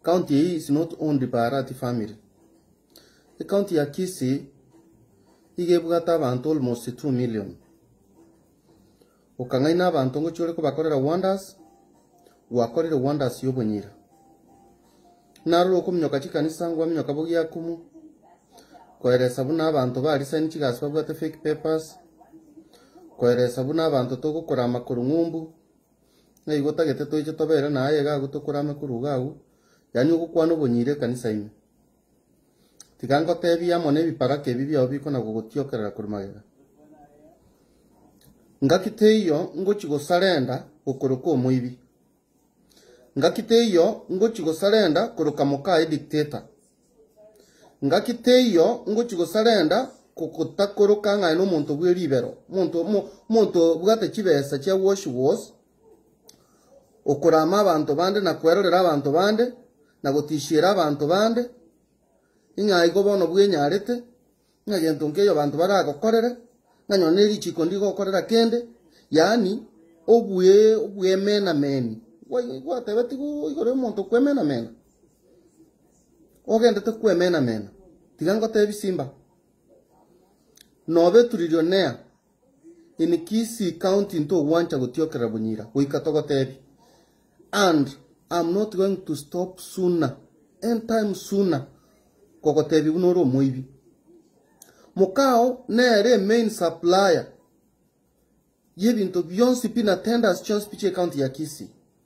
County eye is not owned by Arati family. Ecounty ya Kisii iga ebwate abanto almost two million. Okang'aina abanto ngochia ore kobakorera wonders, gwakorire wonders y'obonyira. Narora okominyoka chikanisa ngwaminyoka bogie Akumu, koeresa buna abanto ba resign chigasi babwate fake papers, koeresa buna abanto togokora amakoro ng'umbu, Ng'a igo tagete toiche tobere na aye iga agwo tokore ame korwa iga agwo, yaani ogokwana obonyire ekanisa ime. Tiga ngotebie amo nebibaraka ebi biao bikona gogotiokerera korwa magega. Ngaki teiyo ngochi gosarenda gokoroka omoibi. Ngaki teiyo ngochi gosarenda koroka mokaye dictator. Ngaki teiyo ngochia gosarenda gotakoroka ng'ai nomonto bwe ribero, omonto omo- omonto obwate chibesa chia wash was, okorama abanto bande na kwerorera abanto bande, na gotishiera abanto bande, ing'aigo bono bwenyarete. Ng'a gento nkeyo abanto baragokorere, ng'a nyora ne richiko ndigokorera kende, yaani obwe, obwemenameni. Gwa- Gwatebetigwe igoro y'omonto okwemenamena? Ogendete kwemenamena, tiga ngotebi simba. Nobeturiri onea, In Kisii county ntogwancha gotiokerera bonyira goika togotebia and am not going to stop sooner any time sooner kogotebia buna ore omoibi. Mokao nere main supplier yebinto bionsi pi na tenders chionsi pi chie county ya Kisii.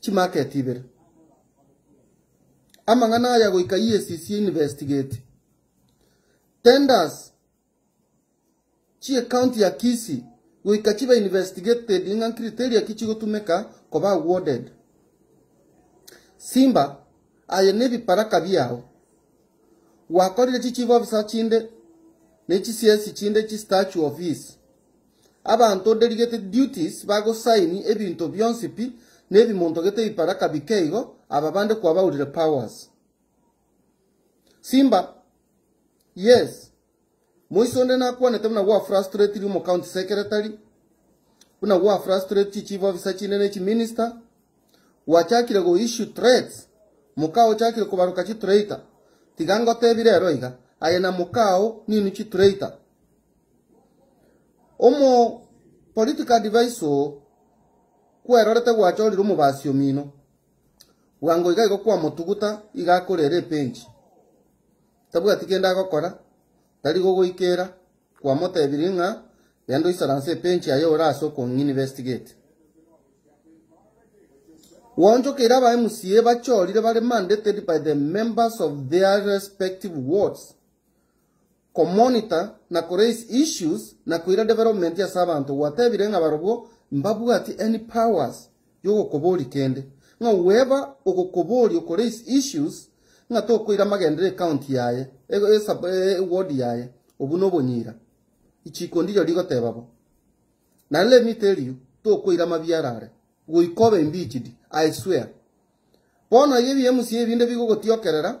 chimarket ibere. Amang'ana aya goika EACC investigate tenders chie county ya Kisii goika chibe investigated ng'a criteria ki chigotumeka koba awarded. Simba aye nebibaraka biao gwakorire chi chief officer chinde ne chisiesi chinde chi statue of his. Abanto delegated duties bagosaini ebinto bionsi pi nebimontogete ebibaraka bikeigo aba bande kwabaurire powers. Simba, Yes, moise onde nakwanete buna gwa frustraterie omo county secretary, buna gwa frustrate chi chief officer chinde ne chi minister, gwachakire go issue threats, mokao ochakire kobaroka chi traitor, tiga ngotebire ero iga, aye na mokao ninu chi traitor. Omo political advisor kwerorete gwachorire omobasi omino. Bwango iga igo kwamotuguta iga akorera epenji. Tabwati kende agokora, tari gogoikera, kwamotebirie ng'a genda oisaranse epenji aye ore ase okong'investigate. Gwaonchokeire aba MCA bachorire bare mandated by the members of their respective wards. Komonitor na koraise issues na koira development ase abanto gwatebire ng'a barobwo mbabwati any powers yogokobori kende, ng'a whoever ogokobori okoraise issues ng'a tokoira amagendereo ecounty yaye, eward yaye obwo nobonyira, ichiko ndirio rigoteba bo. Nare remit erio tokoira amabiara are goika obe impeached, I swear. Bono iga ebi mca ebinde bigogotiokerera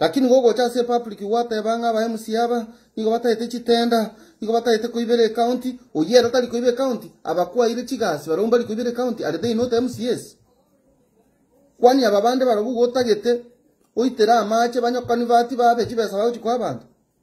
Lakini gogocha ase epublic gwateba ng'a aba mca aba nigo batagete chitenda, nigo batagete koibera ecounty, oyio ere tari koiba ecounty, abakwaire chigasi barobwo mbari koibera ecounty are they not mcas? Kwani aba bande barobwo gotagete oitere amache banyokanibati babe chibesa bagochi koa abanto?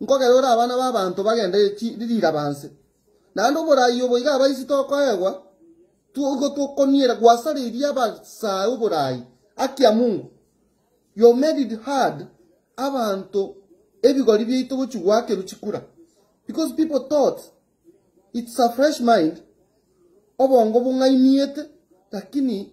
nkogerore abana b'abanto bagenderere riraba inse. Naende oboraai obo iga abaisi tokoegwa, igo tokoniera gwasareria abasae oboraai. Haki ya Mungu, you made it hard abanto ebigori biaito gochia goakerwa chikura because people thought it's a fresh mind, obongo bong'ainiete, lakini.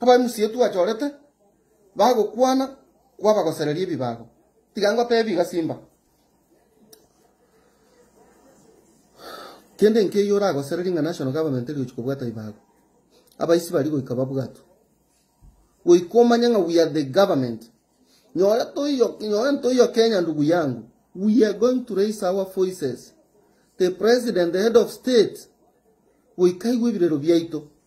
Abamisiri twachorete bagokwana kwabagosereria ebibago. Tiga ngoteebie iga simba. Kende nkeiyo oragosererie ng'a National Government egochi kobwata ebibago. Abaisi baria goika babwatwe. Goika omanye ng'a we are the government. Nyore toiyo nyore ntoiyo Kenya ndugu yangu. We are going to raise our voices. The president, the head of state, goika aigwe ebirero biaito.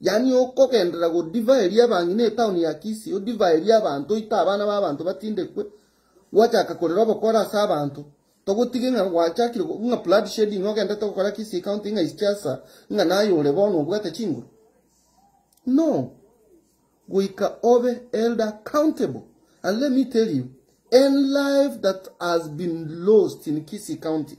Yaani okogenderera godivaa eria ebang'ina etaoni ya Kisii, odivaa eria abanto oite abana b'abanto batindekwe, gwachaka korera obokora ase abanto. Togotige ng'a gwachakire go- ng'a blood shedding ogendete gokora Kisii County ng'a is chiasa ng'a naye ore bono obwate chinguru. No! Goika obe held accountable. And let me tell you, any life that has been lost in Kisii County,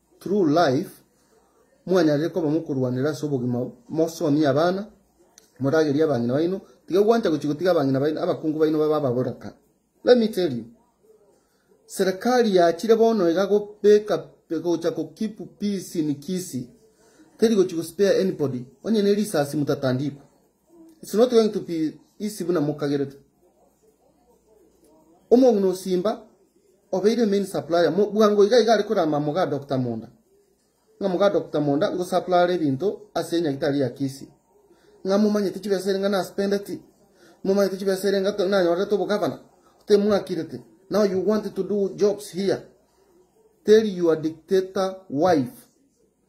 True Life, Mwanyarire koba mokorwanera ase obogima, mosomie abana, moragerie abang'ina baino, tiga gwancha gochia gotiga abang'ina baino, abakungu baino babe ababoraka. Let me tell you, Serikali yachire bono iga gobeka gocha ko keep peace in Kisii, teri gochia go spare anybody, onye ne risasi motatandikwa. It's not going to be easy buna mokagerete. Omong'ina osimba obeire main supplier mo bwango iga iga are korama moga Doctor Monda. Ng'a moga Doctor Monda ngo supplier ebinto ase enyagitari ya Kisii. Ng'a momanyete chibesa ere ng'a na spendeti. Momanyete chibesa ere ng'a nanyorete obogavana. Te mwakirete. Now you want to do jobs here. Tell your dictator wife.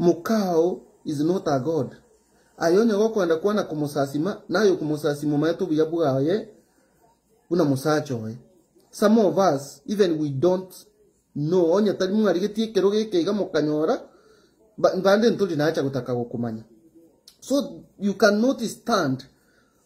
Mokao is not a God. Aye onye gokoenda kwana komosasima, naye okomosasima omanyete obuya bwaye buna mosacha oye. Some of us even we don't know onye tari mwarigetie ekero geke iga mokanyora bande ntori nacha gotaka gokomanya. So you cannot stand.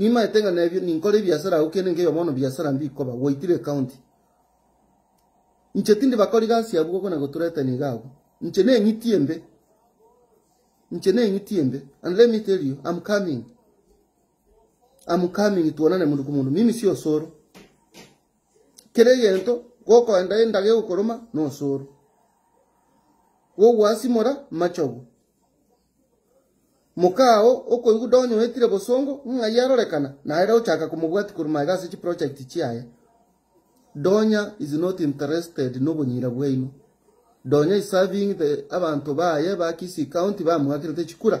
Nimaete ng'a nebio ninkore ebiasara agwo kende nkeyo bono biasara mbikoba gwaitire ekaunti. Inche tindi bakori gasi abwo buna goturetania iga abwo. Inche neng'iti embe. Inche neng'iti embe. And let me tell you, I'm coming. I'm coming tuonane mundu ku mundu. Mimi si osoro. Kera egento gokoenda endaga egokoroma na osoro. Gogwasimora machogu. Moka oo okoigwa donye oetire bosongo, ng'ai arorekana? Naere ochaka komobwatia korwa magega ase chiproject chiaye. Donya is not interested nobonyira bwaino. Donya is serving the abanto baye ba Kisii County bamoakerete chikura.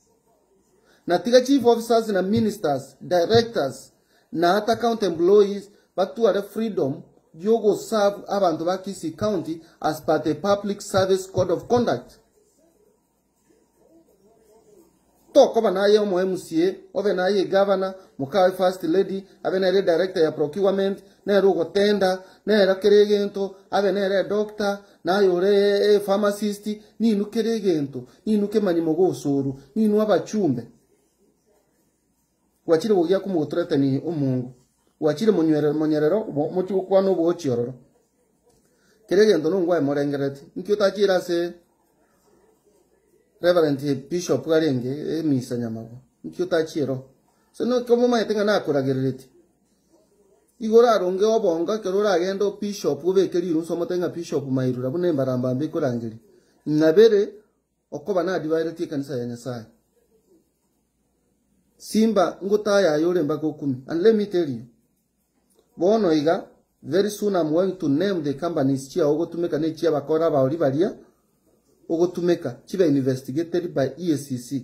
Na tiga chief officers na ministers, directors, na ata county employees batware freedom y'ogoserve abanto ba Kisii County as per the Public Service Code of Conduct. Tokoba naye omo MCA, obe naye egavana, mokawe first lady, abe nere director ya procurement, nere ogotenda, nere kera egento, abe nere edoctor, naye ore epharmacist, ninwe kera egento. Ninwe kemanyi mogosoorwa, ninwe abachumbe. Gwachire gogiakwa mogotoretenighe omongu, gwachire monywere monyerero obo mochie gokwana oboochi ororo. Keria egento nongo aye morengereretie. Inki otachire ase Reverend Bishop arenge emisa nyamabo? Inki otachiire oo? Ase noke omomanyete ng'a nakoragereretie. Nigo oraronge obongo ekero oragende o bishop obeke rirunse omote ng'a bishop mairura buna embarambambe ikorangeria, ng'a bere okoba nadibaeretie ekanisa ya Nyasaye. Simba ngotaye aye ore mpaka okumi and let me tell you bono iga very soon am going to name the companies chiao ogotumeka ne chia bakora abaori baria ogotumeka chibe investigated by EACC.